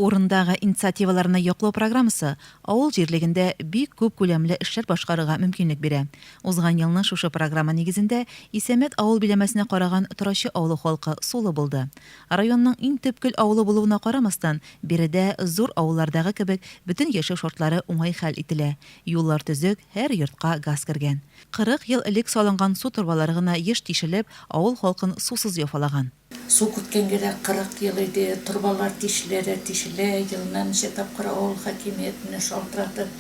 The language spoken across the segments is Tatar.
Урындагы инициативаларны яклау программасы авыл җирлегендә бик күп күләмле эшләр башкарырга мөмкинлек бирә. Узган елны шушы программа нигезендә Исәмәт авыл биләмәсенә караган Торачы авылы халкы сулы булды. Районның иң төпкел авылы булуына карамастан, биредә, зур авыллардагы кебек, бөтен яшәү шартлары уңай хәл ителә, юллар төзек, һәр йортка газ кергән. Кырык ел элек салынган су торбалары гына еш тишелеп, авыл халкын сусыз яфалаган. Су киткәнгә дә 40 ел иде, торбалар тишелә дә тишелә, елына ничә тапкыр авыл хакимиятенә шалтыратып,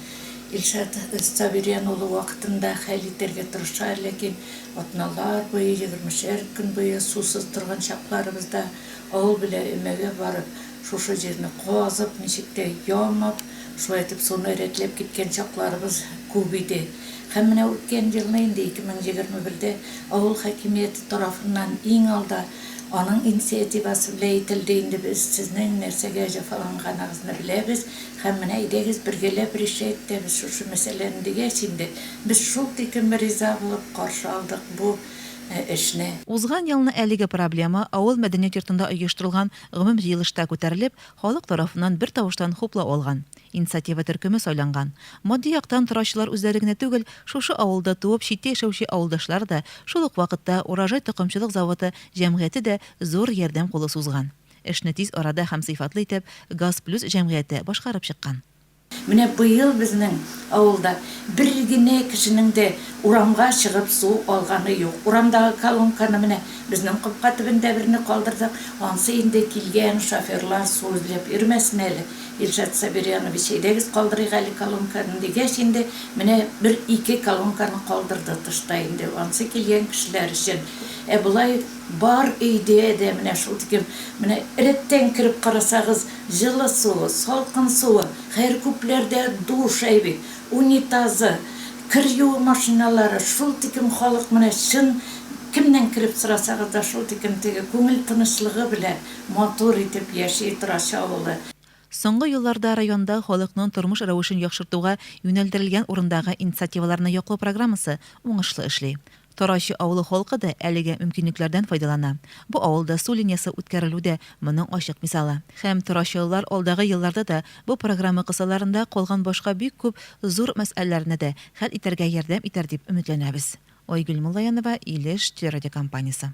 Илшат Сабириян улы вакытында хәл итәргә тырыша, ләкин атналар буе, егермешәр көн буе сусыз торган чакларыбызда авыл белән өмәгә барып, Шушы җирне казып, ничек тә ямап, шулай итеп суны рәтләп киткән чакларыбыз күп иде. Һәм менә үткән елны инде, 2021дә авыл хакимияте тарафыннан иң алда аның инициативасы белән әйтелде, инде без сезнең нәрсәгә җәфаланганыгызны беләбез һәм менә әйдәгез бергәләп решать итәбез шушы мәсьәләне дигәч инде, без шул тиклем риза булып каршы алдык бу эшне. Узган елны әлеге проблема авыл мәдәният йортында оештырылган Гомум җыелышта күтәрелеп, халык тарафыннан бертавыштан хуплау алган. Инициатива төркеме сайланган. Матди яктан торачылар үзләре генә түгел, шушы авылда туып, читтә яшәүче авылдашлар да, шул ук вакытта Урожай токымчылык заводы җәмгыяте дә зур ярдәм кулы сузган. Эшне тиз арада һәм сыйфатлы итеп Газ Плюс җәмгыяте башкарып чыккан. Менә быел безнең авылда бер генә кешенең дә урамга чыгып су алганы юк. Урамдагы колонканы менә безнең капка төбендә берне калдырдык. Ансы инде килгән шоферлар су эзләп йөрмәсен әле. Илшат Сабирьянович, әйдәгез калдырыйк әле колонканы, дигәч инде, менә бер-ике колонканы калдырды тышта инде, ансы килгән кешеләр өчен. Ә болай бар өйдә дә менә шул тиклем, менә рәттән кереп карасагыз, Җылы суы, салкын суы, хәер, күпләрдә душай бит, унитазы, кер юу машиналары, шул тиклем халык менә чын, кемнән кереп сорасагыз да, шул тиклем теге күңел тынычлыгы белән матур итеп яши Торачы авылы. Соңгы елларда районда халыкның тормыш рәвешен яхшыртуга юнәлдерелгән урындагы инициативаларны яклау программасы уңышлы эшли. Тарачы авылы халкы да әлеге мөмкинлекләрдән файдалана. Бу авылда су линиясе үткәрелү дә моның ачык мисалы. Һәм тарачылылар алдагы елларда да бу программа кысаларында калган башка бик күп зур мәсьәләләрне дә хәл итәргә ярдәм итәр дип өметләнәбез. Айгөл Муллаянова, Илеш телерадиокомпаниясе.